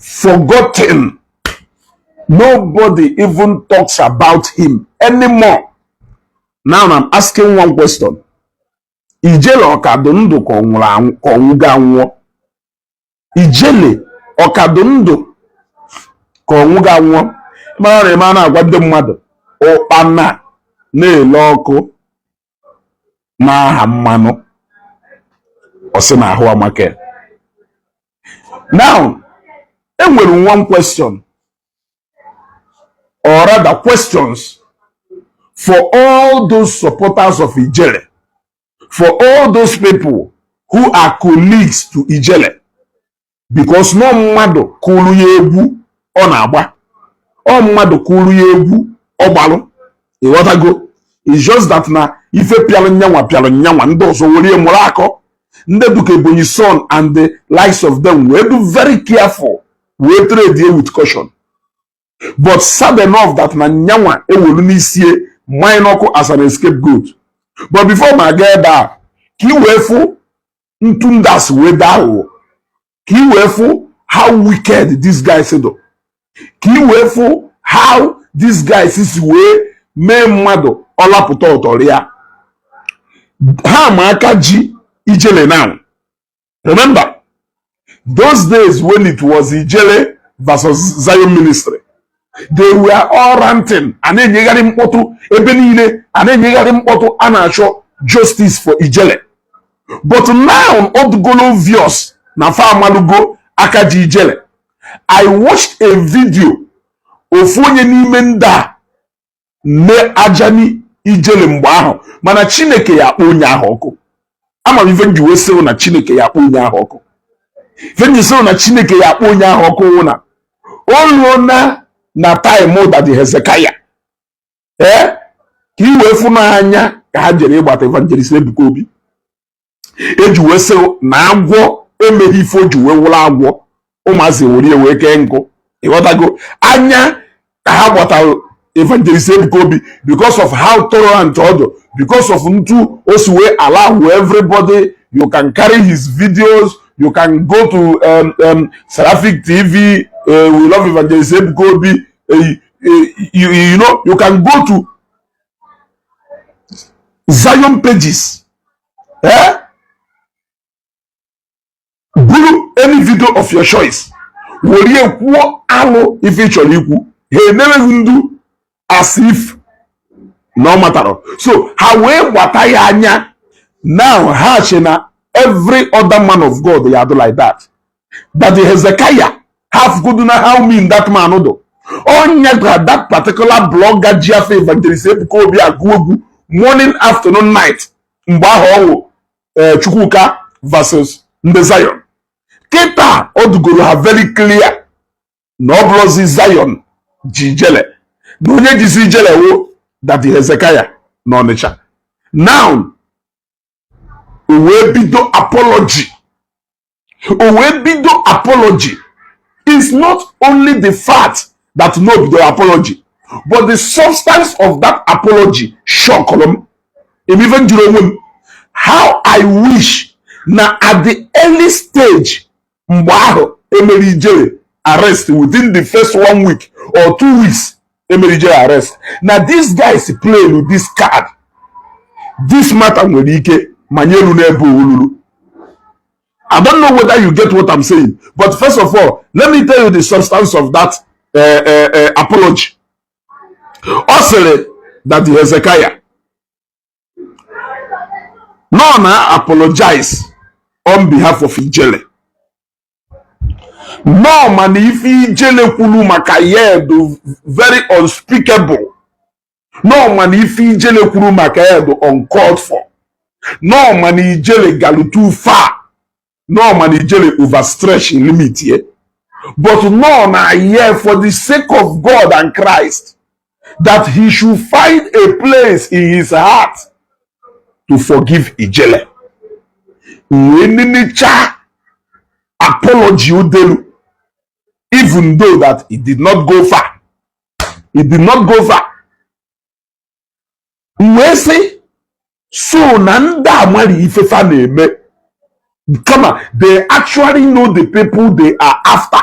forgotten nobody even talks about him anymore now i'm asking one question ijele ọ ka dụ ndụ ka ọ nwụgo anwụọ ijele ọ ka dụ ndụ ka ọ nwụgo anwụọ mara na eme a na-agwa ndị mmadụ ụkpana na-ele ọkụ na-aha mmanụ ọ sị na ahụ amaka now e nwere one question or rather questions for all those supporters of Ijele for all those people who are colleagues to Ijele because na ọ mmadụ kụrụ ya egwu ọ na-agba ọ mmadụ kụrụ ya egwu ọ gbalụ ị ghọtago it's just that na ife pịalụ nyanwa pịalụ nyanwa ndị ọzọ were mụrụ akọ ndị dụ ka ebonyi son and the likes of them wee dụ very careful wee tread with caution but sad enough that na nyanwa ewelu n'isie manye n'ọkụ as an escape goat but before m aga ebe a ka ị wee fụ ntu ndị a si wee dụ aghụghọ ka ị wee fụ how wicked these guys dụ ka ị wee fụ how these guys si wee mee mmadụ ọ lapụta ọ tọrọ ya ha ma aka ji ijele now Remember, those days when it was Ijele versus Zion Ministry, they were all ranting a na-enyegharị mkpọtụ ebe niile a na-enyegharị mkpọtụ a na-achọ justice for Ijele but now ọ dụgolu obvious na fa amalụgo aka ji Ijele I watched a video ofu onye n'ime ndị a na-ajani ijele mgbe ahụ mana chineke ya akpọ onye ahụ ọkụ ama m ife m ji wee sị na chineke ya akpọ onye ahụ ọkụ ife m ji sị na chineke ya akpọ onye ahụ ọkụ wụ na o ruo na na time daddy hezekiah ee ka ị wee fụ na anya ka ha jere ịgbata evangelist ebuka obi e ji wee sị na agwọ emeghị ife o ji wee wụrụ agwọ ụmụazị ewere ya wee kee nkụ ị ghọtago anya ka ha gbatara evangelist Ebuka Obi because of how tolerant ọ dụ because of ntu o si wee allow everybody you can carry his videos you can go to um, um, Seraphic TV uh, we love evangelist Ebuka Obi uh, you, you know you can go to Zion pages eh? buru any video of your choice were ya kwuo alụ ife ị chọrọ ikwu he never even do as if na ọ matara so ha wee gbata ya anya now ha che na every other man of God ya-adụ like that Daddy Hezekiah ha fụgodu na how mean that man dụ. Onye gwa that particular blogger ji afa evangelist Ebuka Obi agụ egwu morning afternoon night mgbe ahụ ọwụ eh, Chukwuka versus ndị Zion kịta ọ dụgoro ha very clear na ọ bụrọzi Zion ji Ijele na onye jizi Ijele wụ Daddy Hezekiah na Ọnịcha now o wee bido apology o wee bido apology is not only the fact that na o bidoro apology but the substance of that apology shockụrụ m m even jụrụ onwe m how i wish na at the early stage mgbe ahụ e mere Ijele arrest within the first one week or two weeks e mere Ijele arrest na these guys play with this card this matter nwere ike ma nye elu n'ebe o lulu I don't know whether you get what I'm saying but first of all let me tell you the substance of that uh, uh, uh, apology ọ sịrị Daddy Hezekiah na ọ na-apologize on behalf of Ijele na ọ ma na ife Ijele kwuru maka ya dụ very unspeakable na ọ ma na ife Ijele kwuru maka ya dụ uncalled for na ọ ma na Ijele galụ too far na ọ ma na Ijele overstretchiri limit ye but na ọ nọ here for the sake of God and Christ that he should find a place in his heart to forgive Ijele. Nweninicha apology Udelu, even though that he did not go far. He did not go far. Wee sị, so na ndị amara ifefa na-eme kama they actually know the people they are after.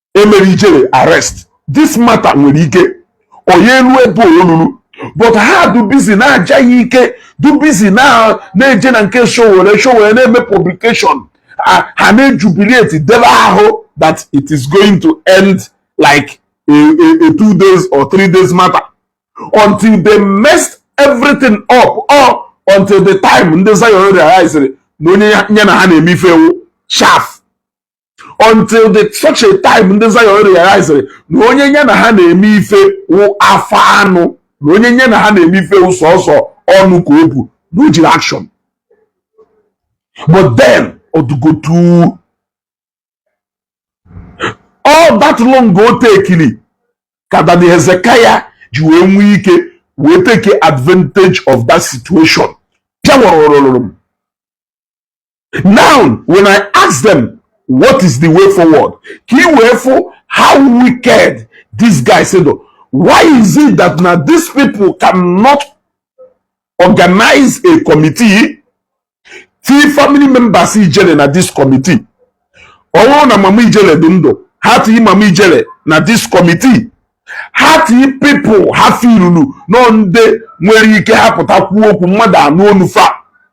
e mere Ijele arrest this matter nwere ike ọ nya elu ebe o lulu but ha dụ busy na-aja ya ike dụ busy na-eje na nke Sowore Sowore na-eme publication ha na-ejubilate debe ahụ that it is going to end like a, a, a two days or three days matter until they messed everything up or until the time ndị Zion realizere na onye ya na ha na-eme ife wụ chaff until the such a time ndị Zion realizere na onye nye na ha na-eme ife wụ afọ anụ na onye nye na ha na-eme ife wụ sọsọ ọnụ ka o bu na o jirọ action but then ọ dụgotu all that long o takeiri ka Daddy Hezekiah ji wee nwee ike wee take advantage of that situation pịawarụrụrụ m now when i ask them what is the way forward ka i wee fụ how wicked these guys dụ why is it that na these people cannot organize a committee tii family members ijele na this committee ọ wụrụ na mama ijele dụ ndụ ha tii mama ijele na this committee ha tii people ha feelulu na ọ ndị nwere ike ha pụta kwuo okwu mmadụ anụ onu fa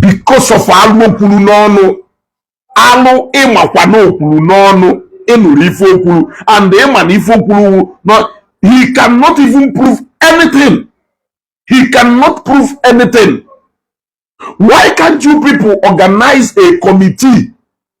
because of alụ o kwuru n'ọnụ alụ ị makwa na o kwuru n'ọnụ ị nụrụ ife o kwuru and ị ma na ife o kwuru na he cannot even prove anything he cannot prove anything why can't you people organize a committee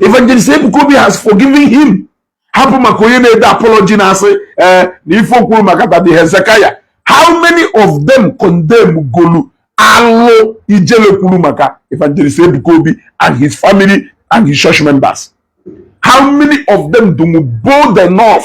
evangelist ebuka obi has forgiven him hapụ maka onye na-ede apology na-asị na ife o kwuru maka daddy hezekiah how many of them condemn golu alụ ijele kwuru maka evangelist ebuka obi and his family and his church members how many of them dụ bold enough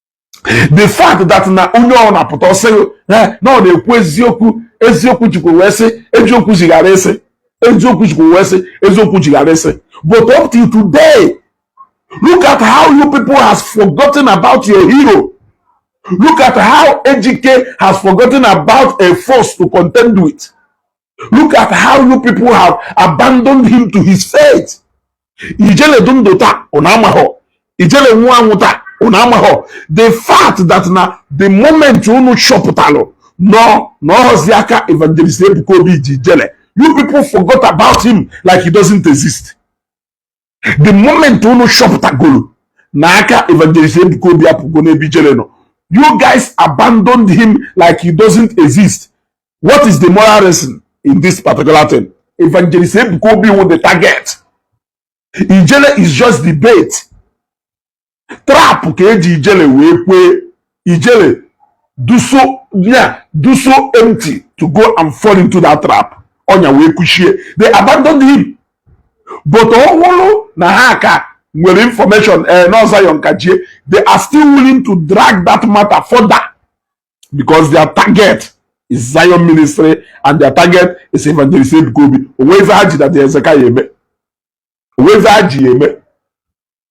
the fact that na onye ọ na-apụta ọ sị na ọ na-ekwu eziokwu eziokwu jikwa wee sị eziokwu jighara ịsị eziokwu jikwa wee sị eziokwu jighara ịsị but up till today look at how you people has forgotten about your hero look at how ejike has forgotten about a force to contend with look at how you people have abandoned him to his fate ijele dụ ndụ taa ụna amahọ ijele nwụọ anwụ taa ụna amahọ the fact that na the moment unu chọpụtalụ nọ na ọ họzi aka evangelist ebuka obi ji ijele you people forgot about him like he doesn't exist the moment unu chọpụtagolu na aka evangelist ebuka obi apụgo n'ebe ijele nọ you guys abandoned him like he doesn't exist what is the moral lesson in this particular thing evangelist ebuka obi wụ the target ijele is just the bait trap ka e ji ijele wee kwee ijele dụ so ya dụ so empty to go and fall into that trap ọnya wee kuchie they abandoned him but ọ wụrụ na ha ka nwere information na ọ Zion ka ji ye they are still willing to drag that matter further because their target is Zion ministry and their target is evangelist Ebuka Obi o nwe ife ha ji Daddy Hezekiah eme o nwe ife ha ji ya eme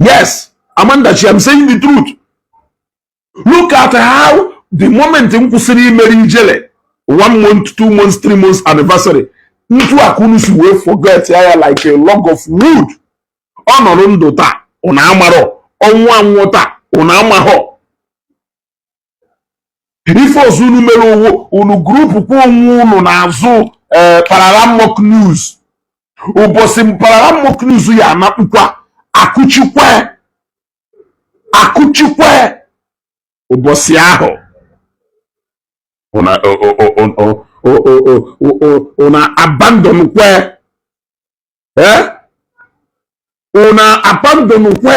yes amanda chi am saying the truth look at how the moment m kwụsịrị imere ijele one month two months three months anniversary ntu aka unu si wee forget ya like a log of wood ọ nọrọ ndụ taa ụna amarọ ọ nwụọ anwụ taa ụna amahọ ife ọzọ unu mere wụ unu group kwa onwe unu n'azụ eh, pararamok news ụbọchị pararamok news ya anakpụkwa akụchikwa akụchikwa ụbọchị ahụ una abandon kwe eh una abandon kwe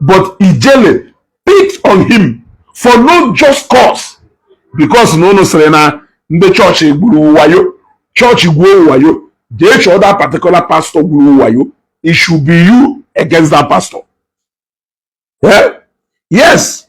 but ijele picked on him for no just cause because na unu sịrị na ndị chọọchị gwuru wayo chọọchị gwuo wayo jee chọọ that particular pastor gwuru wayo it should be you against that pastor yeah? yes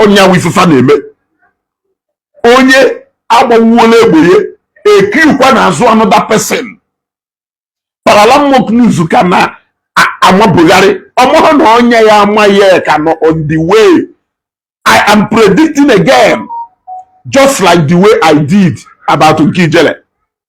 ọ nya wụ ife fa na-eme onye agbawuola egbe ya e kirikwa n'azụ another person paralamok news ka na-amabugharị ọ marọ na ọnya ya-ama ye ka nọ on the way i am predicting again just like the way i did about nke Ijele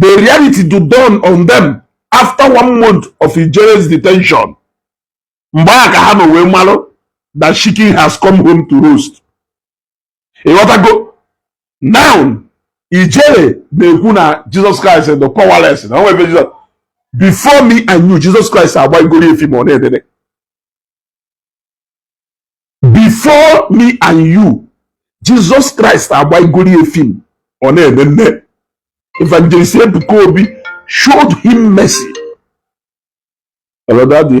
the reality to dawn on them after one month of Ijele's detention mgbe ahụ ka ha nọ wee malụ that chicken has come home to roost ịghọtago now Ijele na-ekwu na Jesus Christ dị powerless na o nwe ebe Jizọs before me and you Jesus Christ agbaigoro ya film ọ na-enene before me and you Jesus Christ agbaigoro ya film ọ na-enene evangelist Ebuka Obi showed him mercy hello daddy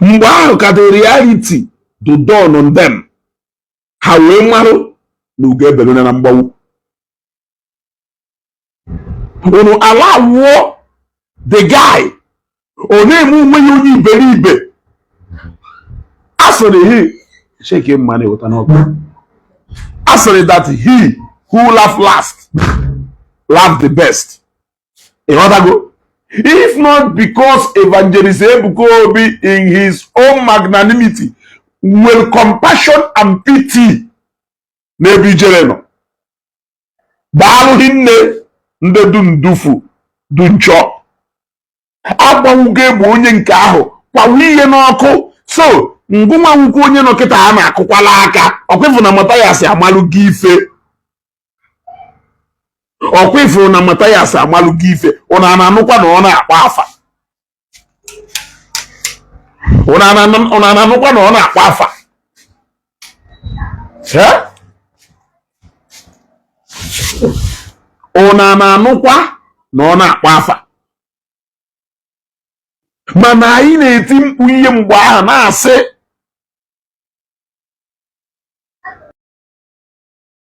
mgbe ahụ ka the reality do dawn on them ha wee marụ na ugo ebelu na mgbagbu unu ala awụọ the guy ọ na-eme onwe ya onye iberibe a sịrị hi cheke mma na-eweta n'ọkụ a sịrị that he who laugh last laugh the best ịghọtago if not because evangelist ebuka obi in his own magnanimity nwere compassion and pity n'ebe ijele nọ daalụghị nne ndị du ndufu du nchọ agbanwugo egbe onye nke ahụ kwawa ihe n'ọkụ so ngụnwa nwukwu onye nọ kịta a na-akụkwala aka ọkwa ị fụ na Mathias amalụgo ife ọkwa ifuru na matayas amalụgo ife ụna ana anụkwa na ọ na-akpa afa ụna ana anụkwa na ọ na-akpa afa ụna ana anụkwa na ọ na-akpa afa mana anyị na-eti mkpu ihe mgbe ahụ na-asị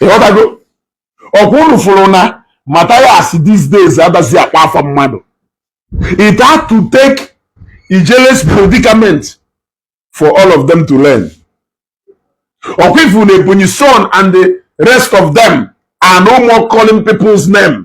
ịghọtago ọkwa unu fụrụ na Matthias these days adazị akpa afa mmadụ it had to take Ijele's predicament for all of them to learn ọkwa ị fụ na Ebonyi son and the rest of them are no more calling people's name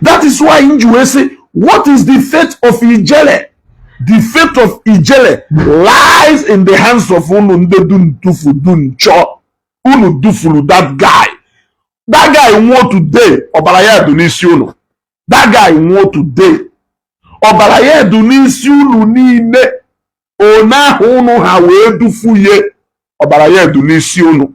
that is why m ji wee sị what is the fate of ijele the fate of ijele lies in the hands of unu ndị dụ ntufu dụ nchọọ unu dufuru that guy that guy nwụọ today ọbara ya dụ n'isi unu that guy nwụọ today ọbara ya dụ n'isi unu niile one ahụ unu ha wee dufue ye ọbara ya dụ n'isi unu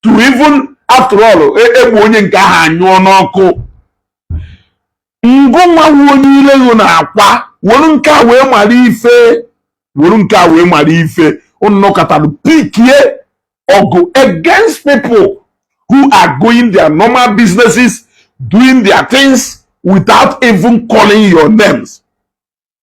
to even after all e gbue onye nke ahụ anyụọ n'ọkụ ngụ nwa onye ile gị na-akwa were nke a wee mara ife were nke a wee mara ife unu nọkatara pikie ọgụ against people who are going their normal businesses doing their things without even calling your names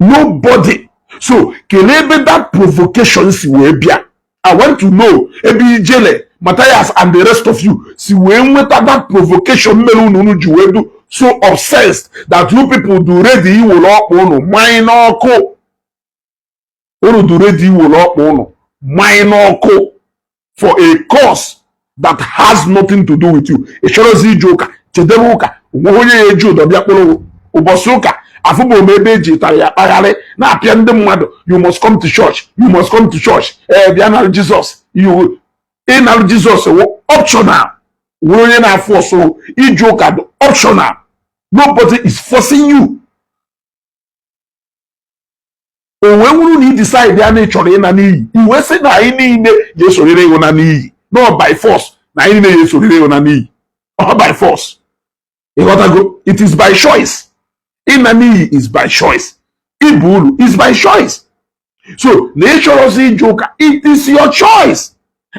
nobody so kelee ebe that provocation si wee bịa i want to know ebe ijele Matthias and the rest of you si wee nweta that provocation mere unu unu ji wee dụ so obsessed that you people dụ ready iwere ọkpa unu manye n'ọkụ unu dụ ready iwere ọkpa unu manye n'ọkụ for a cause that has nothing to do with you ị chọrọzị ije ụka jedebe ụka o nweghị onye ya-eji ụdọ bịa kpụrụ ụbọsị ụka afụbụ m ebe e ji ụtarị akpagharị na-apịa ndị mmadụ you must come to church you must come to church ee bịa nara jizọs ịnara jizọs wụ optional were onye na-afọsụ ije ụka bụ optional nobody is forcing you ọ wee wụrụ na ị disaidia na ị chọrọ ịna n'iyi ị wee sị na anyị niile ya-esorịrị gị na n'iyi na ọ by force na anyị niile ya-esorịrị gị na n'iyi ọ by force ịghọtago it is by choice ịna n'iyi is by choice ịba uru is by choice so na ị chọrọzị ije ụka it is your choice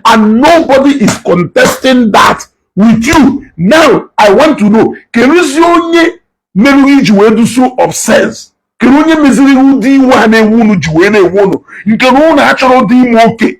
and nobody is contesting that with you now i want to know keruzi onye mere gị i ji wee dụ so obsessed kedu onye meziri ụdị iwe a na-ewe unu ji wee na-ewe unu nke na unu achọrọdị ime oke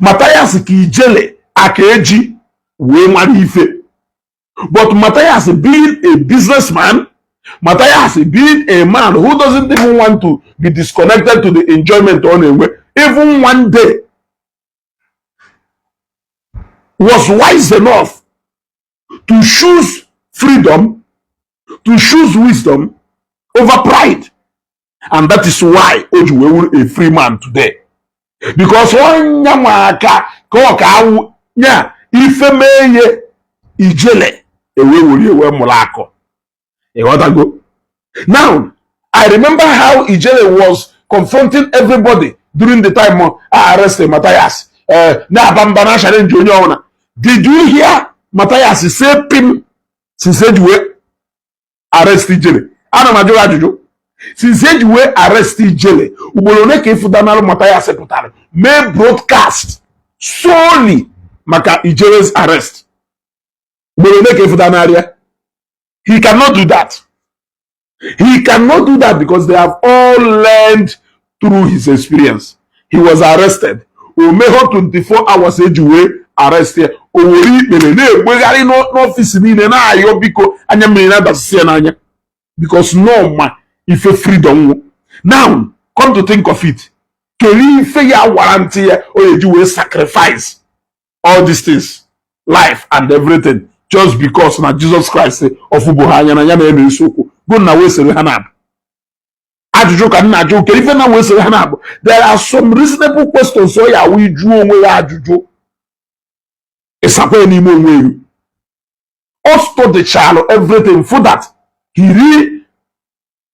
Mathias ka ijele aka eji wee mara ife but Mathias being a businessman Mathias being a man who doesn't even want to be disconnected to the enjoyment ọ na-enwe even one day was wise enough to choose freedom, to choose wisdom over pride. And that is why o ji wee wụrụ a free man today. Because onye nwaka ka ọ ka awụ nya ife mee ihe ijele e wee were e wee mụrụ akọ ịghọtago now i remember how ijele was confronting everybody during the time of arresting Matthias uh, na-aba mba na-achallenge onye ọbụla did you hear Matthias say pim since eji wee arrest ijele ana m ajụ gị ajụjụ since eji wee arrest ijele ugboro one ka ị fụdanalụ Matthias pụtara mee broadcast solely maka ijele's arrest ugboro one ka ị fụtanarị ya he cannot do that he cannot do that because they have all learned through his experience he was arrested o mehọ 24 hours eji wee arrest ya o were ikpere na-egbegharị n'ọfịs niile na-ayọ biko anya mmiri na-adasịsị ya n'anya because na ọ ma ife freedom wụ now come to think of it kedu ife ya warrant ya o ji wee sacrifice all these things life and everything just because na Jesus Christ ọ fụbụ ha anya na ya na-eme isiokwu go na wee sere ha na-abụ ajụjụ ka m na-ajụ kere ife na wee sere ha na-abụ there are some reasonable questions ọ ya-awụ ị jụọ onwe ya ajụjụ ị sakwa ya n'ime onwe elu ọ studychalụ everything for that he really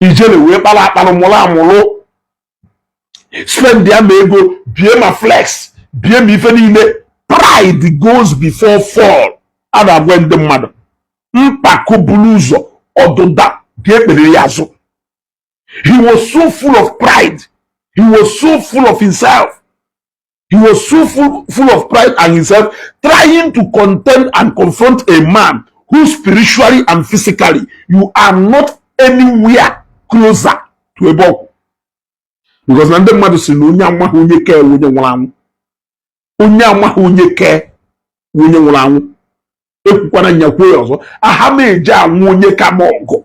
ijele wee kpara akpara mụrụ amụrụ spend ya ma ego bie ma flex bie ma ife niile pride goes before fall a na-agwa ndị mmadụ mpako buru ụzọ ọdụda ga-ekpere ya azụ he was so full of pride he was so full of himself He was so full of pride and himself, trying to contend and confront a man who spiritually and physically you are not anywhere closer to ebe ọ kwụ because na ndị mmadụ sị na onye amaghị onye ka ya wụ onye nwụrụ anwụ onye amaghị onye ka ya wụ onye nwụrụ anwụ ekwukwana m ya kwuo ya ọzọ aha m eji anụ onye ka m ọgụ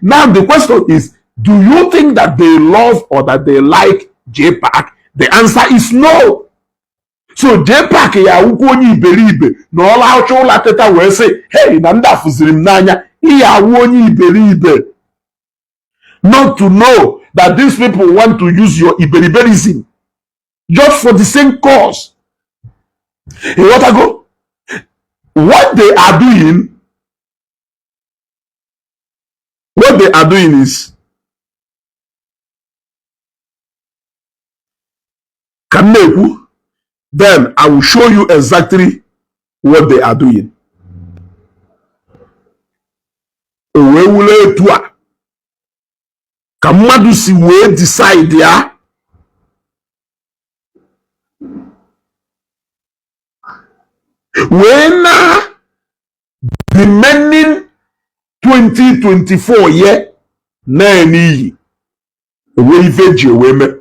Now the question is, do you think that they love or that they like JPAC? The answer is no. so JPAC ya-awụkwa onye iberibe na ọ lahụcha ụla teta wee sị hei na ndị a fụziri m n'anya ị ya-awụ onye iberibe not to know that these people want to use your iberiberism just for the same cause ịghọtago what they are doing What they are doing is ka m na-ekwu then I will show you exactly what they are doing. o wee wụlụ etu a ka mmadụ si wee decide ya wee na remaining 2024 ye na-ene iyi onwe ife ji wee mee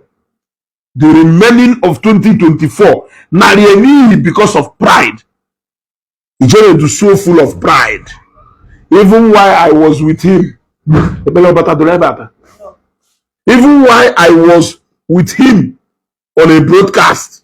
the remaining of 2024 narị n'ihi because of pride Ijele dụ so full of pride even while i was with him ebele ọbata dụrụ ebe ata even while i was with him on a broadcast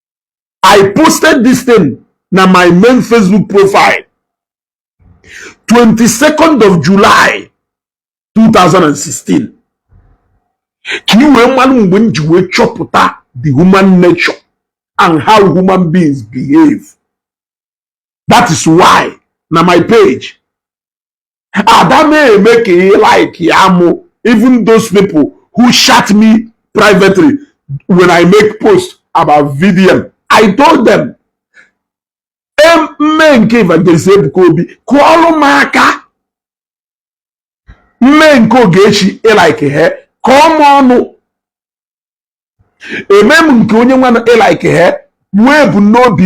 I posted this thing na my main Facebook profile 22nd of July 2016 ka i wee malụ mgbe m ji wee chọpụta the human nature and how human beings behave that is why na my page ada m eme ka ị like ya mụ even those people who chat me privately when I make post about VDM I told them m mee nke Evangelist Ebuka Obi kụọlụ m aka m mee nke Ogechi ị like he kọọ m ọnụ eme m nke onye nwana ị like he nwee ebumnobi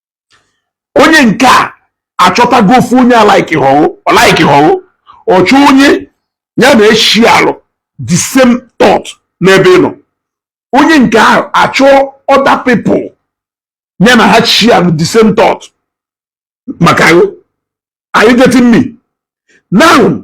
onye nke a achọtago ofu onye alaikihọ ghụ ọ laikihọ ghụ ọ chọọ onye ya na ya sharelụ the same thought n'ebe ị nọ onye nke ahụ achọọ other people ya na ha sharelụ the same thought maka ghụ are you getting me now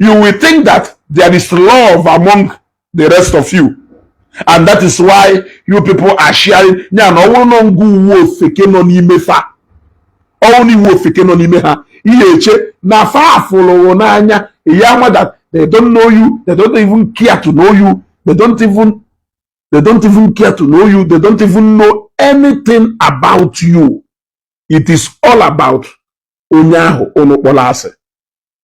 you will think that there is love among the rest of you and that is why you people are sharing ya na ọ wụrụ na ngụ wụ ofeke nọ n'ime fa ọ wụrụ na ị wụ ofeke nọ n'ime ha i ye eche na fa fụlụ wụ n'anya ị ya ama that they don't know you they don't even care to know you they don't even they don't even care to know you they don't even know anything about you it is all about onye ahụ unu kpọrọ asị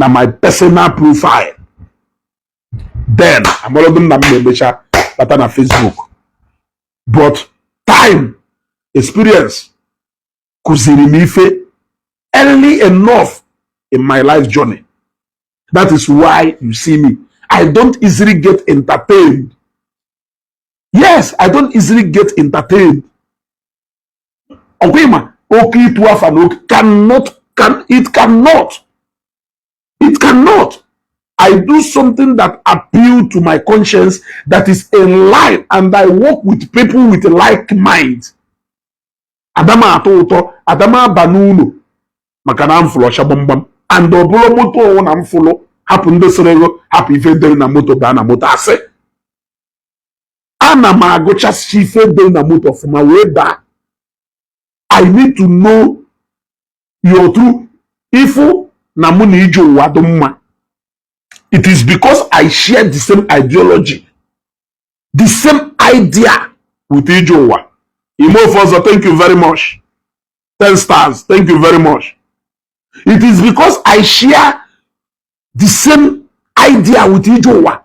na my personal profile then amalogo m na m na-emecha bata na Facebook but time experience kụziri m ife early enough in my life journey that is why you see me I don't easily get entertained yes I don't easily get entertained ọ kwa ị ma oke ịtụ afa na oke cannot can it cannot it cannot I do something that appeal to my conscience that is in line and I work with people with like mind ada m atọ ụtọ ada m aba n'ụlọ maka na m fụrụ ọcha gbamgbam and ọ bụrụ moto ọ wụ na m fụrụ hapụ ndị sịrị ghụ hapụ ife e dere na moto baa na moto asị ana m agụchasị ife dị na moto ọfụma wee baa i need to know your true ifu na mụ na ije ụwa dị mma it is because i share the same ideology the same idea with ije ụwa ime ofe ọzọ thank you very much ten stars thank you very much it is because i share the same idea with ije ụwa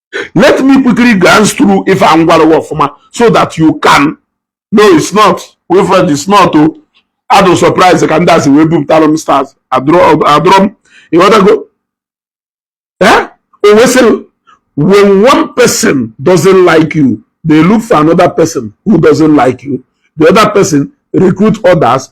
let me quickly glance through ife m gwara gị ọfụma so that you can no it's not Wilfred it's not o adụ m surprise ka ndị a si wee bupụtara m stars adụrọ m ị ghọtago eh? o wesịrị when one person doesn't like you they look for another person who doesn't like you the other person recruit others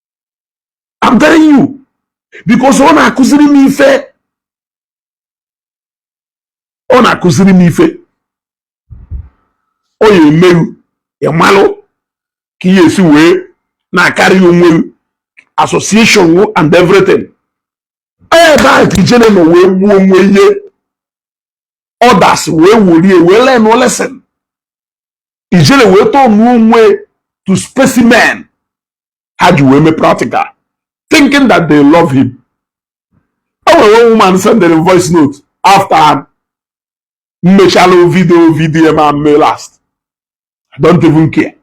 I'm telling you because ọ na-akụziri m ife ọ na-akụziri m ife ọ ya emeru ịmalụ ka ị ya-esi wee na-acarry onwe association and everything ebe a ka Ijele nọ wee gbuo onwe ya others wee were ya wee learn lesson Ijele wee turnuo onwe to specimen ha ji wee mee practical thinking that they love him o nwere one woman sendere m voice note after mmechala video video ma mme last i don't even care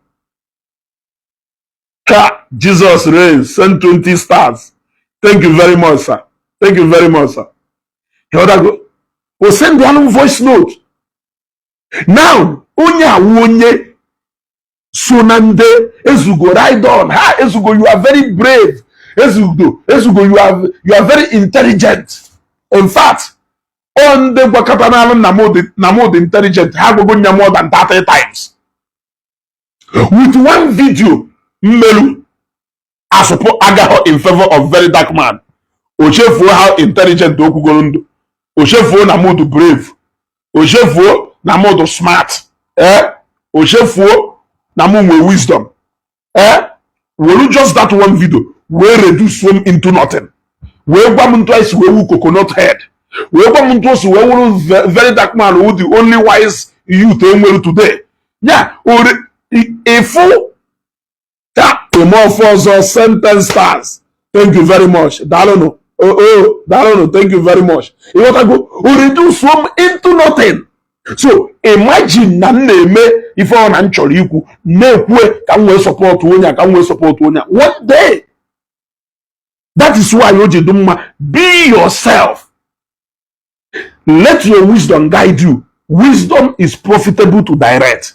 ka jesus reigns send 20 stars thank you very much sir thank you very much sir go. o send anụ voice note now onye awụ onye so na ndị ezugo ride on ha ezugo you are very brave Ezugo you are very intelligent in fact ọ ndị gwakatanalụ na mụ dị intelligent ha agwago m ya more than 30 times with one video m merụ asụpụ agaghọ in favor of very dark man o chefuo how intelligent o kwugoro m dụ o chefuo na mụ dụ brave o chefuo na mụ dụ smart ee o chefuo na mụ nwe wisdom ee were just that one video wee reduce m into nothing wee gwa m etu i si wee wụ coconut head wee gwa m etu o si wee wụrụ very dark man wụ the only wise youth e nwere today ya ore ịfụ ya emee ife ọzọ sending stars thank you very much daalụnụ oo daalụnụ thank you very much ị ghọtago o reduce m into nothing so imagine na m na-eme ife ọ na m chọrọ ikwu na-ekwue ka m wee support onye a ka m wee support onye a one day that is why o ji dị mma be yourself let your wisdom guide you wisdom is profitable to direct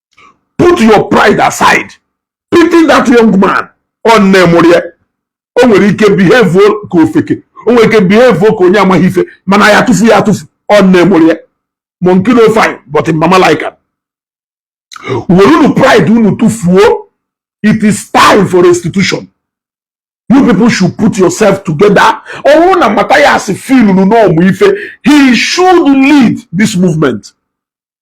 put your pride aside pity that young man ọ nne mụrụ ya o nwere ike behave ka ofeke o nwere ike behave ka onye amaghị ife mana a ya-atụfu ya atụfu ọ nne mụrụ ya monkey no fine but mama like am were unu pride unu tụfuo it is time for restitution you people should put yourself together ọ wụrụ na Matthias feeluru na ọ ma ife he should lead this movement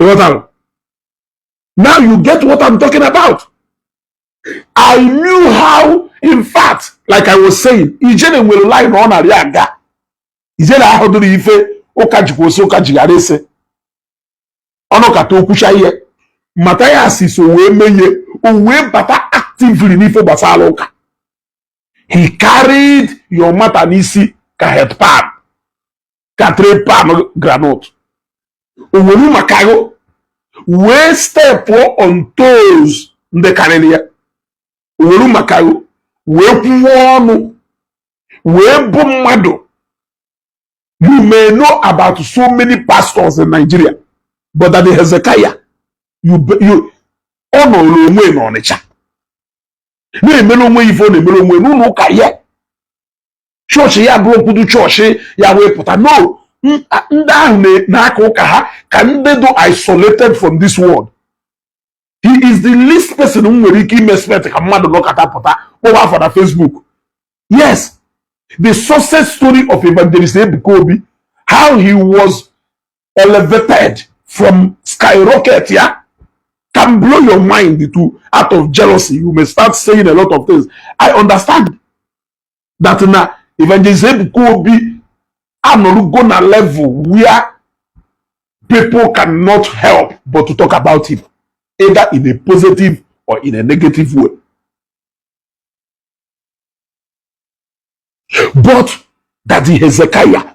ị ghọtara now you get what I'm talking about I knew how in fact like I was saying Ijele nwere line ọ narị aga Ijele ahụ dịrị ife ụka jikwa ose ụka jighara ese ọ nọkata o kwuchaa ihe Matthias so wee menye o wee bata actively n'ife gbasara ụka he carried your matter n'isi ka head pan ka three pound granọt o were maka ego wee stepụ on toes ndị karịrị ya o were maka ego wee kwuwe ọnụ wee bụ mmadụ you may know about so many pastors in Nigeria but Daddy Hezekiah you, you, ọ nọrọ onwe n'Ọnịcha na-emere onwe ife ọ na-emere onwe n'ụlọ ụka ya chọọchị ya bụrụ okwudu chọọchị ya wee pụta no ndị ahụ na-aka ụka ha ka ndị dị isolated from this world he is the least person m nwere ike ime expect ka mmadụ nọkata pụta kpọwa afa na Facebook yes the success story of evangelist Ebuka Obi how he was elevated from skyrocket ya can blow your mind to out of jealousy you may start saying a lot of things I understand that na evangelist ebuka obi anọrugo na level where people cannot help but to talk about him either in a positive or in a negative way but that the hezekiah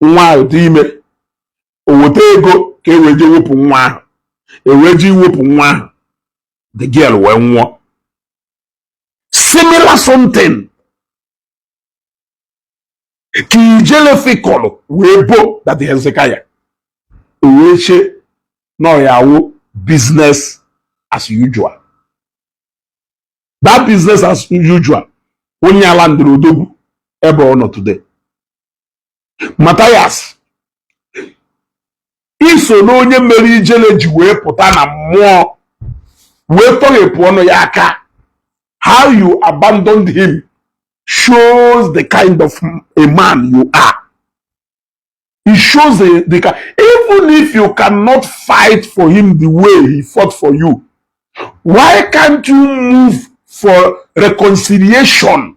nwa ahụ dị ime o weta ego ka e wee jee wepụ nwa ahụ e wee jee iwepụ nwa ahụ the girl wee nwụọ similar something ka Ijele fikọlụ wee bo Daddy Hezekiah o wee che na ọ ya-awụ business as usual that business as usual wụ nya landịrị odogwu ebe ọ nọ today Matthias i so na onye mere Ijele ji wee pụta na mmụọ wee tọghepụ ọnụ ya aka how you abandoned him shows the kind of a man you are It shows the kind even if you cannot fight for him the way he fought for you, why can't you move for reconciliation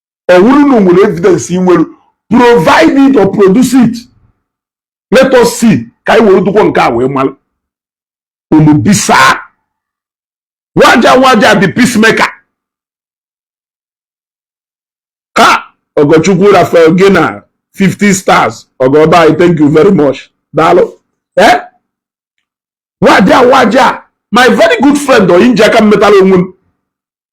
ọ wụrụ na o nwere evidence i nwere provide it or produce it let us see ka anyị were dụkwọ nke a wee mara ụmụ bisa waja waja the peacemaker ha Ogochukwu Raphael gị na 50 stars ọgọba anyị thank you very much daalụ eh waja waja my very good friend oyi m ji aka m metara onwe m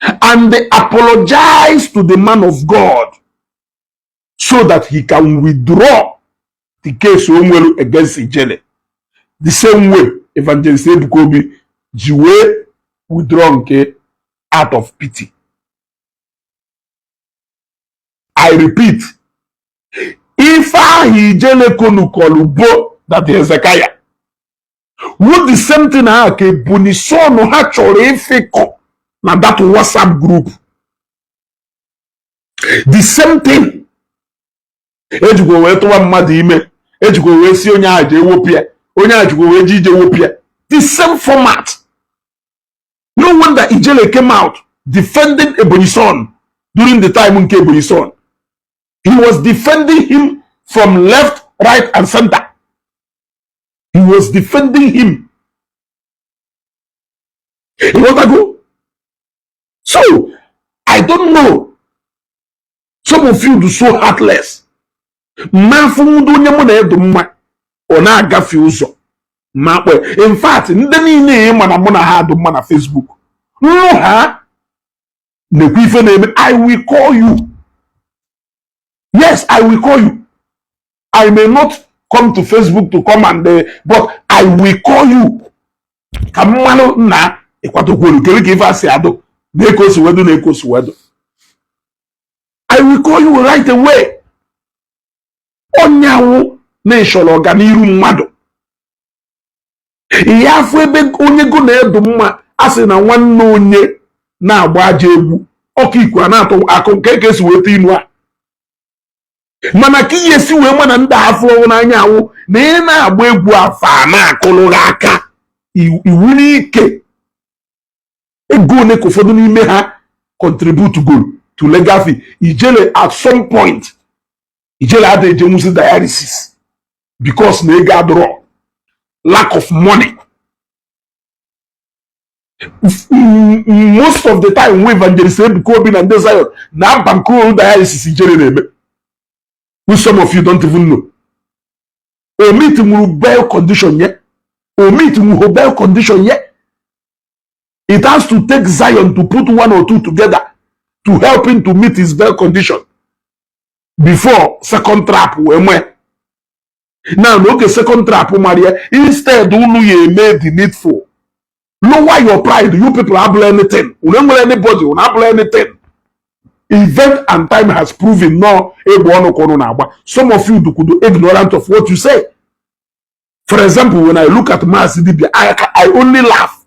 and they apologize to the man of God so that he can withdraw the case o nwere against Ijele the same way evangelist Ebuka Obi ji wee withdraw nke out of pity I repeat ife ahụ Ijele konukọlụ bo Daddy Hezekiah wu the same thing ahụ ka ebonyi son ha chọrọ ịfịkọ na that whatsapp group the same thing ejikwa wee tụwa mmadụ ime ejikwa wee sị onye ahụ jee wepụ ya onye ahụ jikwa wee ji ije wepụ ya the same format no wonder ijele came out defending ebonyi son during the time nke ebonyi son he was defending him from left right and center he was defending him ị ghọtago so i don't know some of you dụ so heartless m afụ ụdị onye mụ na ye dụ mma ọ na-agafie ụzọ m akpọ ye in fact ndị niile ị ma na mụ na ha dụ mma na Facebook nụ ha na-ekwu ife na-eme i will call you yes i will call you I may not come to Facebook to come and uh, but I will call you ka m marụ nna ịkwadokwuru kedu ka ife a si adụ nee ka o si wee dụ nee ka o si wee dụ I will call you right away ọ ya wụ na ị shọrọ ọganiru mmadụ ị ya afụ ebe onye gụ na ye dụ mma a sị na nwanne onye na-agba ajọ egwu ọkọ iku a na-atụ akọ nke ka e si weta inu a mana aka ị ya-esi wee ma na ndị a afụrọ gụ n'anya wụ na ị na-agba egwu afụ ha na-akụrụ gị aka iwu n'ike ego one ka ụfọdụ n'ime ha contributegolu to legal fee ijele at some point ijele ada ejenwuzi dialysis because na ego adụrọ lack of money most of the time wụ evangelist Ebuka Obi na ndị Zion na-abankroll dialysis ijele na-eme which some of you don't even know o meetinwuro bail condition ye o meetinwuho bail condition ye it has to take Zion to put one or two together to help him to meet his bail condition before second trap wee mee na na oge second trap mara ya instead unu ya eme the needful lower your pride you people abụla anything unu enwere anybody unu abụla anything event and time has proven no egbe ọnụ ka na-agba some of you dukwudo ignorant of what you say for example when i look at mass dibia i, I only laugh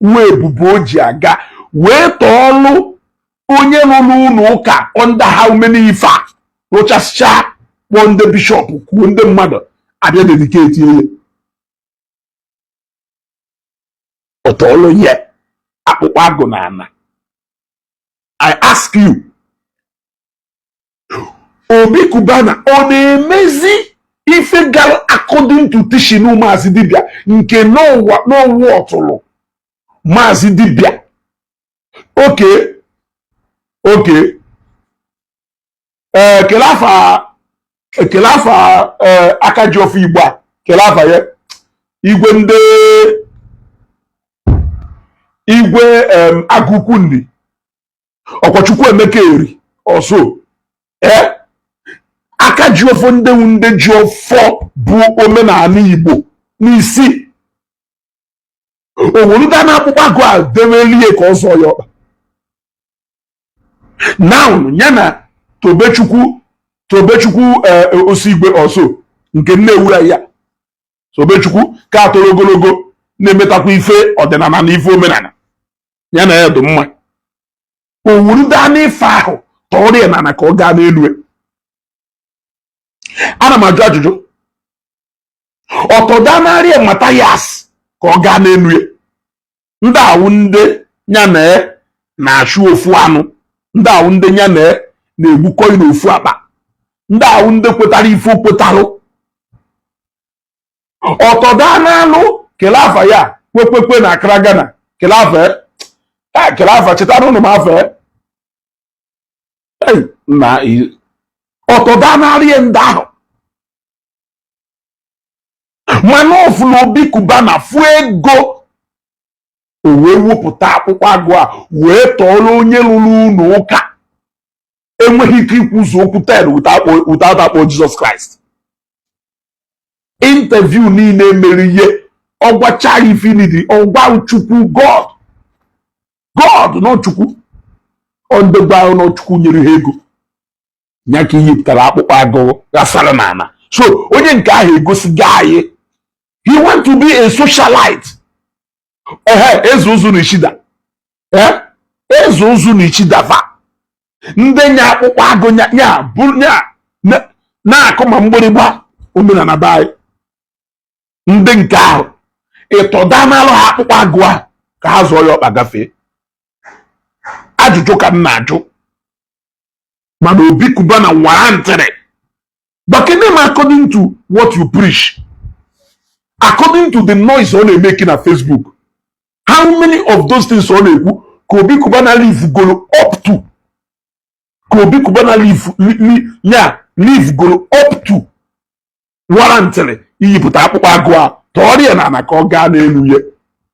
wee ebube o ji aga wee tọọlụ onye rụlụ ụnọ ụka under how many ife a rụchasịcha kpọọ ndị bishop kuo ndị mmadụ a bịa dedicate ya ọ tọọlụ ya akpụkpọ agụ n'ana i ask you obi Cubana ọ na-emezi ife gara according to teaching maazị dibịa nke n'ụwa n'ụwa ọtụrụ maazị dibịa okay okay ee eh, kele afa e kele afa eh, akajiọfọ igbo a kele afa ya igwe ndị igwe agụkwu nri ọ kwa chukwuemeka eri or so ee eh? akajiọfọ ndị wu ndị ji ọfọ bu omenala igbo n'isi o werudana akpụkpọ agụ a dewelie ka ọ zọọ ya ọkpa now ya na tobechukwu tobechukwu eh, osigwe or so nke nne ewura ya tobechukwu ka a toro ogologo na-emetakwa ife ọdịnala na ife omenala ya na ya dị mma o werudana ife ahụ tọọrọ ya n'ala ka ọ gaa n'elu ana m ajụ ajụjụ ọ tọdanarị Matthias ka ọ gaa n'elu ya ndị a wụ ndị ya na ya na-achụ ofu anụ ndị a wụ ndị ya na ya na-egbukọ na ofu akpa ndị a wụ ndị kwetara ife o kwetarụ ọ tọdanarụ kele afa ya kwekwekwe na Accra Ghana kele afa e. e, kele afa chetanụrụ m afa e. na ọ tọdanarị ndị ahụ mana ọ fụla obi Cubana fụ ego o wee wepụta akpụkpọ agụ a wee tọọrọ onye rụrụ ụlọ ụka enweghị ike ikwuzu okwu ten without akpọọ Jesus Christ interview niile mere ihe ọgwacha infinity ọgwa Chukwu God God na ọ Chukwu ondegwa ahụ na ọ Chukwu nyere ha ego ya ka i yipụtara akpụkpọ agụ ghasara n'ala so onye nke ahụ egosigo anyị he want to be a socialite ehe eze ụzụ na ichida ee eze ụzụ na ichida fa ndị nya akpụkpọ agụ nya nya bụ nya na- na-akụ ma mgbịrịgba omenala be anyị ndị nke ahụ ị tọdanalụ ha akpụkpọ agụ ahụ ka ha zọọ ya ọkpa gafee ajụjụ ka m na-ajụ mana obi Cubana warrantịrị gwakene m according to what you preach according to the noise ọ na-emeki na Facebook how many of those things ọ na-ekwu ka Obi Cubana live golo up to ka Obi Cubana live ya live golo up to warrantịrị iyipụta akpụkpọ agụ a tọọrọ ya n'ana ka ọ gaa n'elu ya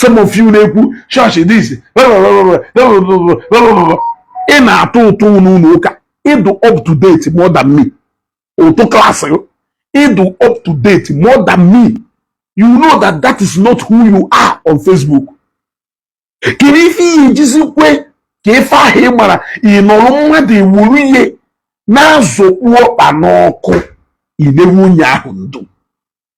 some of you na-ekwu chọọchị this ị na-atụ ụtụ n'ụnọ ụka ị dụ up to date more than me ụtụ klaasị ị dụ up to date more than me you know that that is not who you are on Facebook kedu ife ị ya-ejizi kwe ka ife ahụ ị mara ị nọrọ mmadụ ewuru ihe na-azọkpu ọkpa n'ọkụ i newe onye ahụ ndụ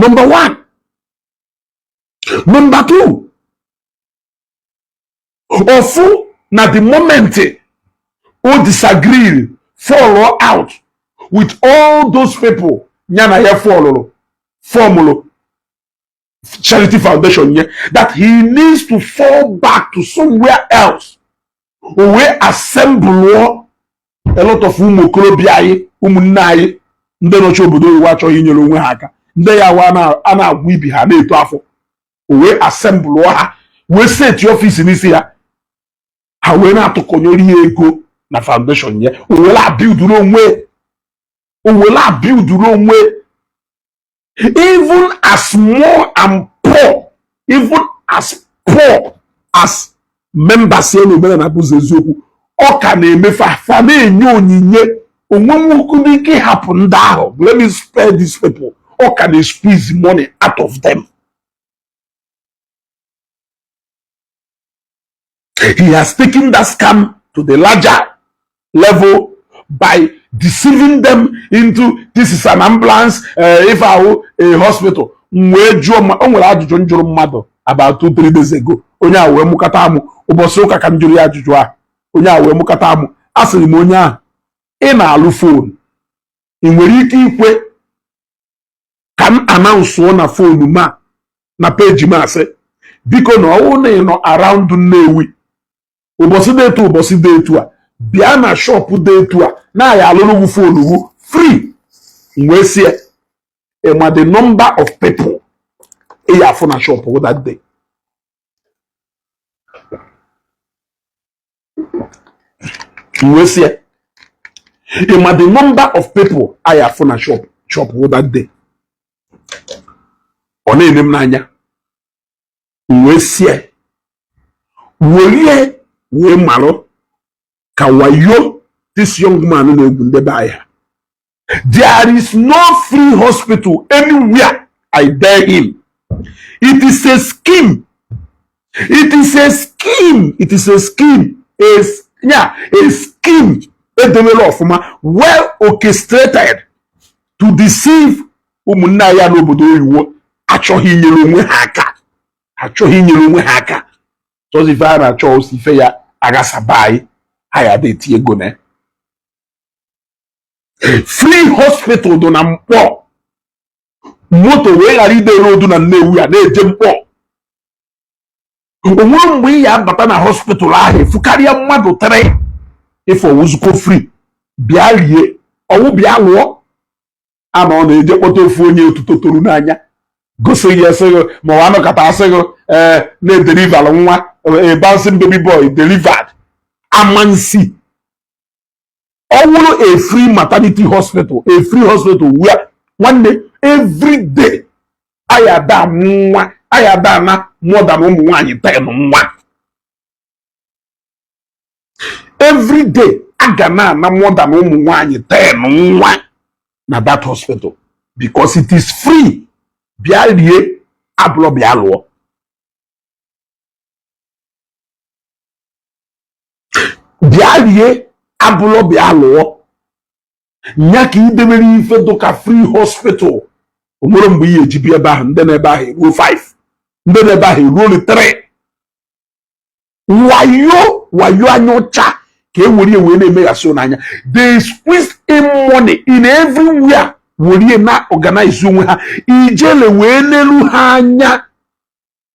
nọmba one nọmba two ọ fụ na the moment o disagree fall out with all those people ya na ya fọlụrụ fọmụrụ charity foundation ya that he needs to fall back to somewhere else o wee assemble a lot of ụmụ okorobịa anyị ụmụnne anyị ndị nọchi obodo oyibo achọghị inyere onwe ha aka ndị ya wa a na-agwọ ibi ha na-eto afọ o wee assemble ha wee seti ọfịs n'isi ha ha wee na-atụkọnyere ya ego na foundation ya o were abiuduru onwe o were abiuduru onwe even as small and poor even as poor as members ya na omenana bụzi eziokwu ọ ka na-eme fa fa na-enye onyinye o nwehọkwanụ ike hapụ ndị ahụ let me spare these people ọ ka na-squeeze money out of them he has taken that scam to the larger level by deceiving them into this is an ambulance uh, ife ahụ a hospital m wee jụọ o nwere ajụjụ m jụrụ mmadụ about two three days ago onye a wee mụkata amụ ụbọsị ụka ka m jụrụ ya ajụjụ a onye a wee mụkata amụ asịrị m onye ahụ ị na-alụ fon ị nwere ike ikwe ka m anaụnsụọ na fonu ma na peji m asị biko na ọ wụ na ị nọ around Nnewi ụbọsị dị etu ụbọsị dị etu a bịa na shọpụ dị etu a na a ya-alụrụ gị fonu wụ free m wee si ya ị ma the number of people ị ya-afụ na shọpụ wụ that day wee si ya ị ma the number of people ị ya-afụ na shọpụ wụ that day ọ na-ene m n'anya m wee si ya were wee marụ ka wayo this young man na-egwu nde be anyị There is no free hospital anywhere. I dare him. It is a scheme. A scheme edemere ọfụma well orchestrated to deceive ụmụnne ya n'obodo oyiwo achọghị inyere onwe ha aka chọzi ife ha na-achọ osi ife ya aghasaba anyị ha ya dị eti ego na ya free hospital dị na Nkpọ moto wee ghara ide rodu na Nnewi ya na-eje Nkpọ o nwere mgbe ị ya abata na hospital ahụ efu karịa mmadụ three four ọ wụzukwọ free bịa rie ọ wụ bịa lụọ a na ọ na-eje kpọta ofu onye otuto toru n'anya gosi gị a sị gị ma ọ wụ a nọkata a sị gị na e deliver nwa a bouncing baby boy delivered amansi ọ wụrụ a free maternity hospital a free hospital where nwanne every day a ya-adị ana more than ụmụ nwaanyị ten nwa every day a ga na-ana more than ụmụ nwaanyị ten nwa na that hospital because it is free bịa rie abụlọ bịa lụọ bịa rie abụlọ bịa lụọ nya ka idebere ife dụka free hospital o nwere mgbe ị ya-ejebe ebe ahụ ndị nọ ebe ahụ eruo 5 ndị nọ ebe ahụ eruo 3 wayo wayo anya ọcha ka e were wee na-emeghasị n'anya they squeeze in money in everywhere were na organize onwe ha Ijele wee nelu ha anya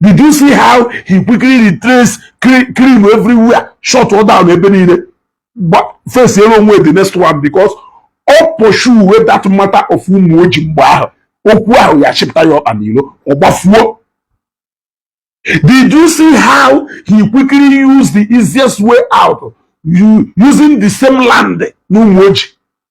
did you see how he quickly retrace clean everywhere shut all down ebe niile face elu onwe the next one because ọ pursuewe that matter of Umuoji mgbe ahụ okwu ahụ ya-achịpụta ya ọkpa n'ilo ọ gbafuo Did you see how he quickly used the easiest way out using the same land n'Umuoji?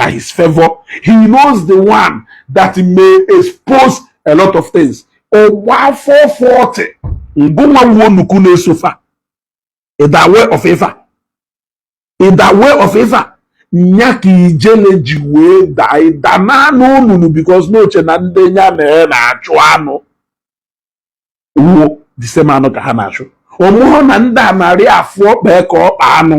in his favour he knows the one that may expose a lot of things ọ gba afọ 40 ngụnwa wuo nnukwu na-esofa in the way of ifa in the way of ifa nya ka Ijele ji wee daa ịdana n'olulu because na o che na ndị nya na ya na-achụ anụ wụ the same anụ ka ha na-achụ ọ mahụ na ndị a na-arị afụ ọkpa ya ka ọkpa anụ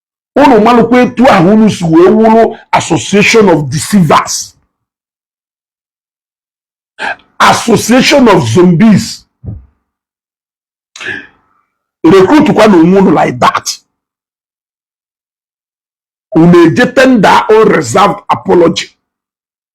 unu malụkwa etu ahụ unu si wee wụrụ association of deceivers association of zombies recruit kwa na onwe unu like that unu eje tender unreserved apology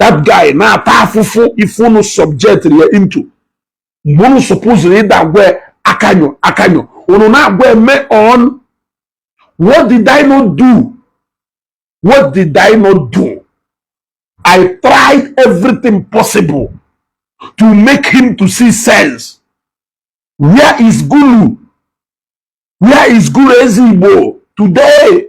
that guy na-ata afụfụ ife unu subjectri ya into mgbe unu supposiri ịda agwa akanyo akanyo unu na-agwa eme on what did I not do what did I not do I tried everything possible to make him to see sense where is Gulu where is Gulu Ezigbo today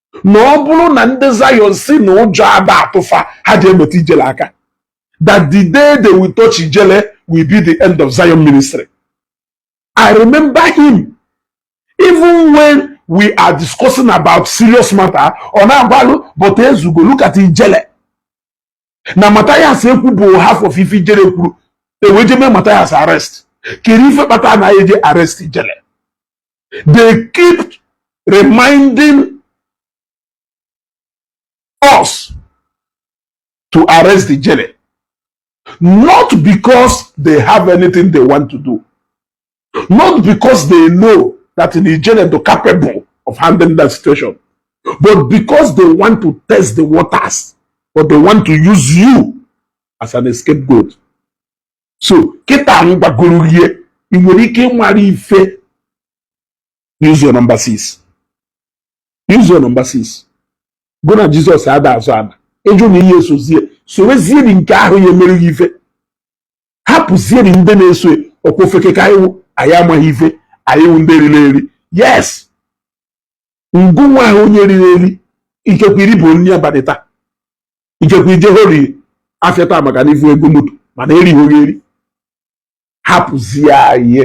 na ọ bụrụ na ndị Zion si na ụjọ ada atụ fa ha ji emeta ijele aka that the day they will touch ijele will be the end of Zion ministry I remember him even when we are discussing about serious matter ọ na-agbalụ but ezugo look at ijele na Mathias ekwubu half of ife ijele kwuru e wee je mee Mathias arrest kedụ ife kpata anaghị eje arrest ijele they keep reminding us to arrest Ijele. Not because they have anything they want to do. not because they know that Ijele is capable of handling that situation, but because they want to test the waters, but they want to use you as an scapegoat. So, kịta m gwagoro gị ị nwere ike ịmara ife use your number six use your number six go na Jizọs ada azọ ana ị jụ na ị ya-esozie sowezie ndị nke ahụ ya-emere gị ife hapụzieri ndị na-eso ọ kwa ofeke ka anyị wụ anyị amaghị ife anyị wụ ndị e riri eri yes ngụ nwa ahụ onye e riri eri ikekwe i ribu nri abalị taa ikekwe i jehori afịa taa maka na ị fụ ego moto mana erighị gị eri hapụzie anyị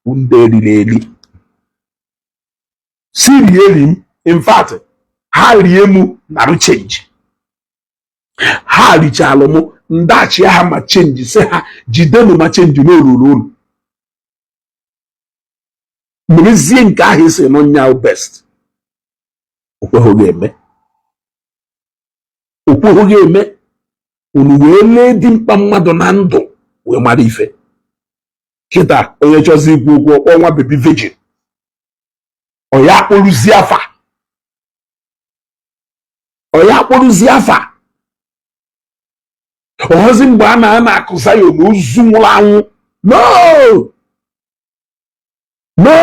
ndị e riri eri si rie eri m in fact ha rie mụ narụ change ha richalụ m ndachi ha ma change sị ha jidenụ ma change na o lulu unu merezie nke ahụ ị sị na ọ nya best okweghị eme okweghị eme unu wee lee ụdị mkpa mmadụ na ndụ wee mara ife kịta onye chọzi ikwu okwu ọ kpọọ nwa baby virgin ọ ya-akpọrọzie afa ọ ya-akpọrụzi afa ọ hụzi mgbe a na a na-akụ Zion na ozu nwụrụ anwụ no no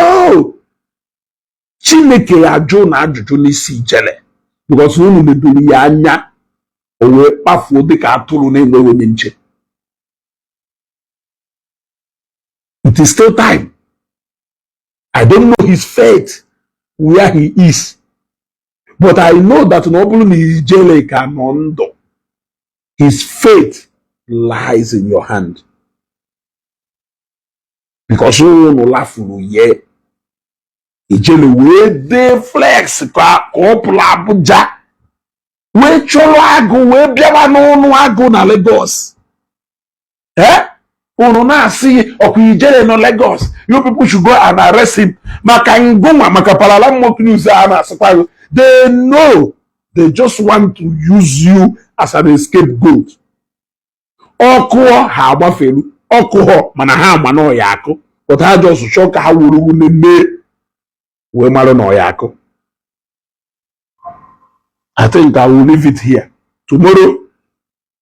chineke ya-ajụ unu ajụjụ n'isi ijele because na unu nedoro ya anya o wee kpafuo dịka atụrụ na-enweghị onye nche it is still time I don't know his fate where he is but I know that na ọ bụrụ na ijele ka nọ ndụ his fate lies in your hand because unu lafuru ye ijele wee dey flex ka ọ pụrụ Abuja wee chọrọ agụ wee bịawa n'ọnụ agụ na Lagos ee unu na-asị ọkwa ijele nọ Lagos you people should go and arrest him maka ngụnwa maka parala mock news a na-asịkwa gị they know they just want to use you as an escape goat ọkụ ahụ ha agbafelu ọkụ ahụ mana ha ama na ọ ya-akụ but ha just chọọ ka ha were unu mee wee mara na ọ ya-akụ I think I will leave it here tomorrow